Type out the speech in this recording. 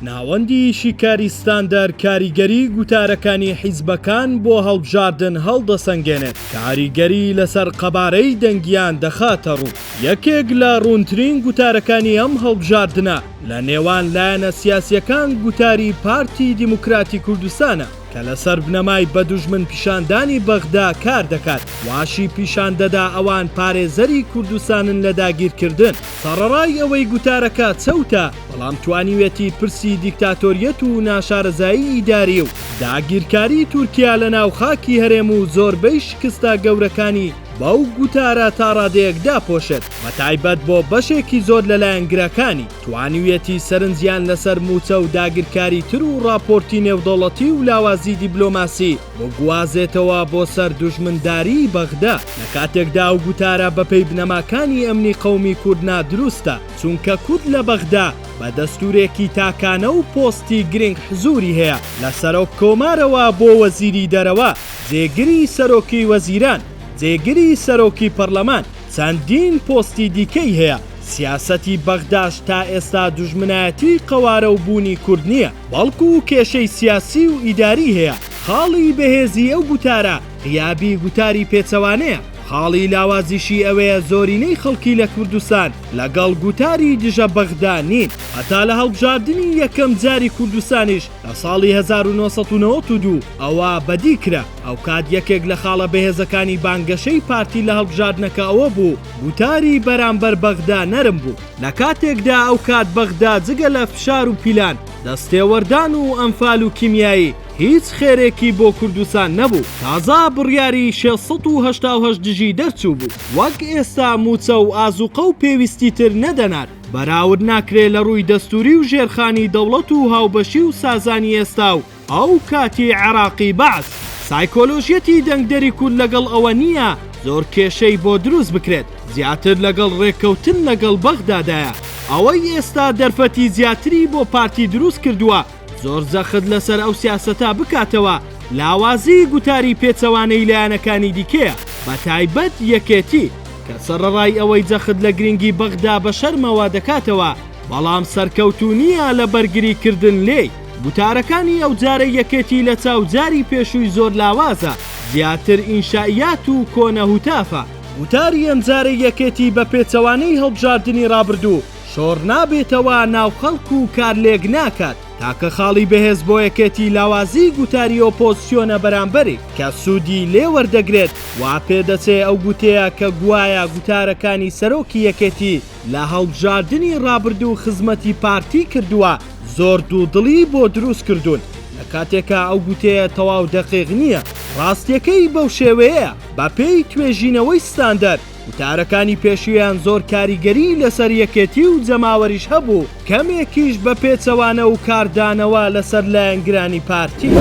ناوەندی شیکاری ستاندەر کاریگەری گوتارەکانی حیزبەکان بۆ هەڵبژاردن هەڵدەسەنگێنێت، کاریگەری لەسەر قەبارەی دەنگیان دەخاتەڕوو. یەکێک لە ڕوونترین گوتارەکانی ئەم هەڵبژاردنە لە نێوان لایەنە سیاسییەکان گوتاری پارتی دیموکراتی کوردستانە کە لەسەر بنەمای بە دوژمن پیشاندانی بەغدا کار دەکات، واشی پیشان دەدا ئەوان پارێزەری کوردستانن لە داگیرکردن. سەڕەڕای ئەوەی گوتارەکە چەوتە، بەڵام توانیوێتی پرسی دیکتاتۆریەت و ناشارەزایی ئیداری و داگیرکاری تورکیا لە ناو خاکی هەرێم و زۆربەی شکستە گەورەکانی بەو گوتارە تا ڕادەیەک داپۆشێت، بەتایبەت بۆ بەشێکی زۆر لە لایەنگرەکانی، توانیوێتی سەرنجیان لەسەر مووچە و داگیرکاری تر و ڕاپۆرتی نێودەوڵەتی و لاوازی دیبلۆماسی بگوازێتەوە بۆ سەر دوژمنداریی بەغدا. لە کاتێکدا ئەو گوتارە بەپێی بنەماکانی ئەمنی قەومی کورد نادروستە، چونکە کورد لە بەغدا بە دەستورێکی تاکانە و پۆستی گرنگ حزوری هەیە، لە سەرۆک کۆمارەوە بۆ وەزیری دەرەوە، جێگری سەرۆکی وەزیران، جێگری سەرۆکی پەڕلەمان، چەندین پۆستی دیکەی هەیە، سیاسەتی بەغداش تا ئێستا دوژمنایەتی قەوارە و بوونی کورد نیە، بەڵکو کێشەی سیاسی و ئیداری هەیە، خاڵی بەهێزی ئەو گوتارە غیابی گوتاری پێچەوانەیە. خاڵی لاوازیشی ئەوەیە زۆرینەی خەڵکی لە کوردستان لەگەڵ گوتاری دژە بەغدا نین. هەتا لە هەڵبژاردنی یەکەم جاری کوردستانیش لە ساڵی هەزار و نۆ سەد و نەوەد و دوو ەوە بەدی کرا. ئەوکات یەکێک لە خاڵە بەهێزەکانی بانگەشەی پارتی لە هەڵبژاردنەکە ئەوە بوو گوتاری بەرامبەر بەغدا نەرم بوو. لە کاتێکدا ئەوکات بەغدا جگە لە فشار و پیلان، دەستێوەردان و ئەنفال و کیمیایی، هیچ خێرێکی بۆ کوردستان نەبوو تازە بڕیاری شێ سەد و هەشتا و هەشت دژی دەرچوو بوو وەک ئێستا مووچە و ئازوقە و پێویستی تر نەدەنار بەراورد ناکرێ لە ڕووی دەستوری و ژێرخانی دەوڵەت و هاوبەشی و سازانی ئێستا و ئەو کاتی عێراقی بەعس سایکۆلۆژیەتی دەنگدەری کورد لەگەڵ ئەوە نییە زۆر کێشەی بۆ دروست بکرێت زیاتر لەگەڵ ڕێککەوتن لەگەڵ بەغدادایە ئەوەی ئێستا دەرفەتی زیاتری بۆ پارتی دروست کردووە زۆر جەخت لەسەر ئەو سیاسەتە بکاتەوە، لاوازیی گوتاری پێچەوانەی لایەنەکانی دیکەیە، بەتایبەت یەکێتی، کە سەڕەڕای ئەوەی جەخت لە گرنگی بەغدا بە شەرمەوە دەکاتەوە، بەڵام سەرکەوتوو نییە لە بەرگریکردن لێی. گوتارەکانی ئەوجارەی یەکێتی لەچاو جاری پێشووی زۆر لاوازە، زیاتر ئینشائیات و کۆنە هوتافە. گوتاری ئەمجارەی یەکێتی بە پێچەوانەی هەڵبژاردنی ڕابردوو، شۆڕنابێتەوە ناو خەڵک و کارلێک ناکات، تاکە خاڵی بەهێز بۆ یەکێتی لاوازیی گوتاری ئۆپۆزسیۆنە بەرامبەرێک کە سوودی لێ وەردەگرێت، وا پێدەچێ ئەو گوتەیە کە گوایە گوتارەکانی سەرۆکی یەکێتی لە هەڵبژاردنی ڕابردوو خزمەتی پارتی کردووە زۆر دوودڵی بۆ دروست کردوون، لە کاتێکا ئەو گوتەیە تەواو دەقیق نییە. ڕاستییەکەی بەو شێوەیەیە، بەپێی توێژینەوەی ستاندەر، وتارەکانی پێشویان زۆر کاریگەری لەسەر یەکێتی و جەماوەریش هەبوو، کەمێکیش بە پێچەوانە و کاردانەوە لەسەر لایەنگرانی پارتی.